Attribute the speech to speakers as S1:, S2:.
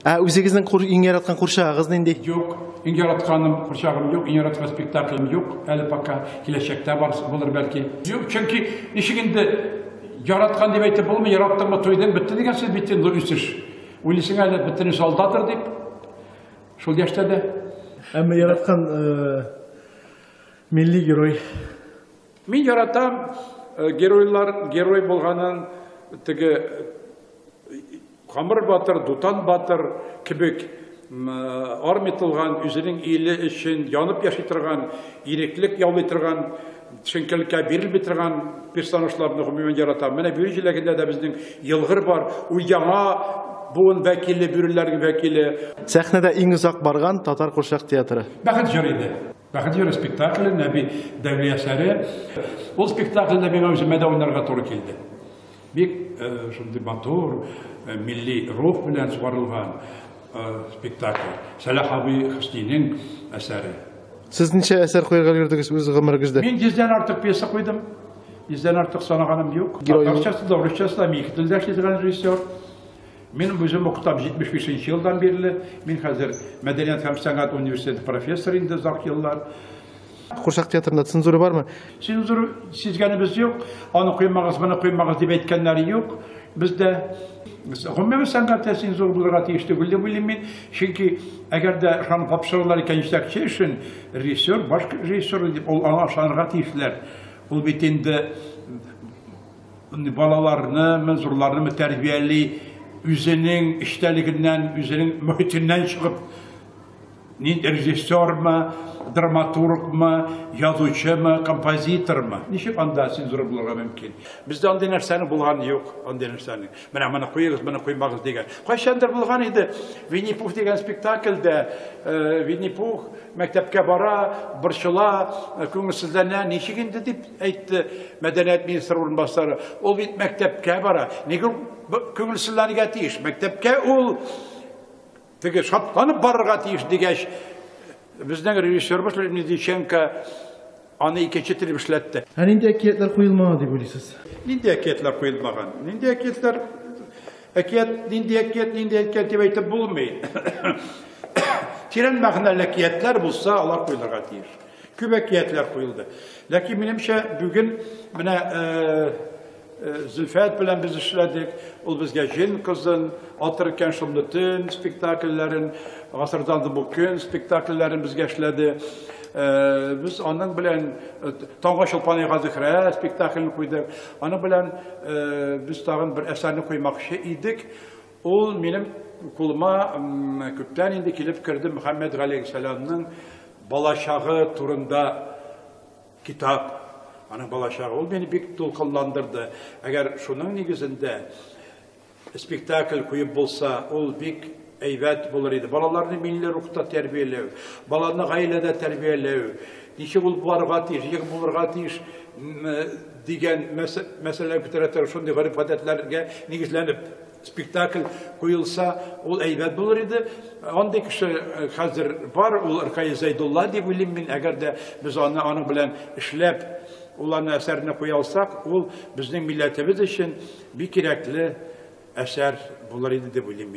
S1: Ә үзегезнең кур, иң яраткан курчагыгыз нинди? Юк, иң
S2: яратканым курчагым юк, иң яраткан спектаклем юк. Әле пока киләчәктә бар булыр бәлки. Юк, чөнки ничек инде яраткан дип әйтеп булмый, яраттыңмы туйдың, бетте дигән сүз бит инде үсеш. Уйлыйсың әле бөтен солдатыр дип. Шул яшьтә дә. Әмма яраткан
S1: э, милли герой Мин
S2: яратам геройлар герой булганын теге Камыр батыр, Дутан батыр кебек армия тылган, үзенең иле өчен янып яши торган, иреклек яулый торган, чөнкелеккә бирелми торган персонажларны гомумән яратам. Менә бүре җиләгендә дә безнең елгыр бар. Ул яңа буын вәкиле, бүреләрнең вәкиле. Сәхнәдә иң
S1: озак барган татар курчак театры. Бәхет җыры иде.
S2: Бәхет җыры спектакле, Нәби Дәүли әсәре. Ул спектакльдә миңа үземә дә уйнарга туры килде. Бик шундый матур, милли рух белән сугарылган спектакль. Сәлах абый Хөснинең әсәре. Сез ничә
S1: әсәр куярга өлгердегез үз гомерегездә? Мин йөздән артык пьеса
S2: куйдым. Йөздән артык санаганым юк. Татарчасы да, урысчасы да, мин ике телдә эшли торган режиссер. Минем үзем укытам 75 нче елдан бирле. Мин хәзер мәдәният һәм сәнгать университеты профессоры инде озак еллар. Курчак
S1: театрында цензура бармы? Цензура
S2: сизгәнебез юк. Аны куймагыз, моны куймагыз дип әйткәннәре юк. Бездә гомумән сәнгатьтә цензура булырга тиеш түгел дип уйлыйм мин. Чөнки әгәр дә ышанып тапшырулар икән җитәкче өчен режиссер, баш режиссер дип ул аңа ышанырга тиешләр. Ул бит инде Балаларны, мы зурларны мы тәрбияли, үзенең эчтәлегеннән, үзенең мөхитеннән чыгып, ни режиссермы, драматургмы, язучымы, композитормы? Ничек анда син зур булырга мөмкин? Бездә андый нәрсәне булган юк, андый нәрсәне. Менә моны куегыз, моны куймагыз дигән. Кайчандыр булган иде. Винни Пух дигән спектакльдә э, Винни Пух мәктәпкә бара, борчыла, э, күңелсезләнә, ничек инде дип әйтте мәдәният министры урынбасары. Ул бит мәктәпкә бара. Нигә күңелсезләнергә тиеш? Мәктәпкә ул теге шатланып барырга тиеш дигәч, безнең режиссерыбыз Медиченко аны икенче телеп эшләтте. Ә нинди әкиятләр
S1: куелмаган дип уйлыйсыз? Нинди әкиятләр
S2: куелмаган? Нинди әкиятләр әкият, нинди әкият, нинди әкият дип әйтеп булмый. Тирән мәгънәле әкиятләр булса, алар куелырга тиеш. Күп әкиятләр куелды. Ләкин минемчә бүген менә Зөлфәт белән без эшләдек. Ул безгә Җен кызын, Атыр икән шомлы төн спектакльләрен, Гасырдан бу көн спектакльләрен безгә эшләде. Без аның белән Таңга чулпан яга Зөһрә спектаклен куйдык. Аның белән без тагын бер әсәрне куймакчы идек. Ул минем кулыма күптән инде килеп керде Мөхәммәд Гали Сәламның балачагы турында китап. Аның балачагы ул мине бик тулкынландырды. Әгәр шуның нигезендә спектакль куеп булса, ул бик әйбәт булыр иде. Балаларны милли рухта тәрбияләү, баланы гаиләдә тәрбияләү, ничек ул булырга тиеш, ничек булырга тиеш Дигән мәсьәләләр күтәрә торып, шундый гореф-гадәтләргә нигезләнеп спектакль куелса, ул әйбәт булыр иде. Андый кеше хәзер бар, ул Ркаил Зәйдулла дип уйлыйм мин. Әгәр дә без аны аның белән эшләп, ул аны әсәренә куя алсак, ул безнең милләтебез өчен бик кирәкле әсәр булыр иде дип уйлыйм мин.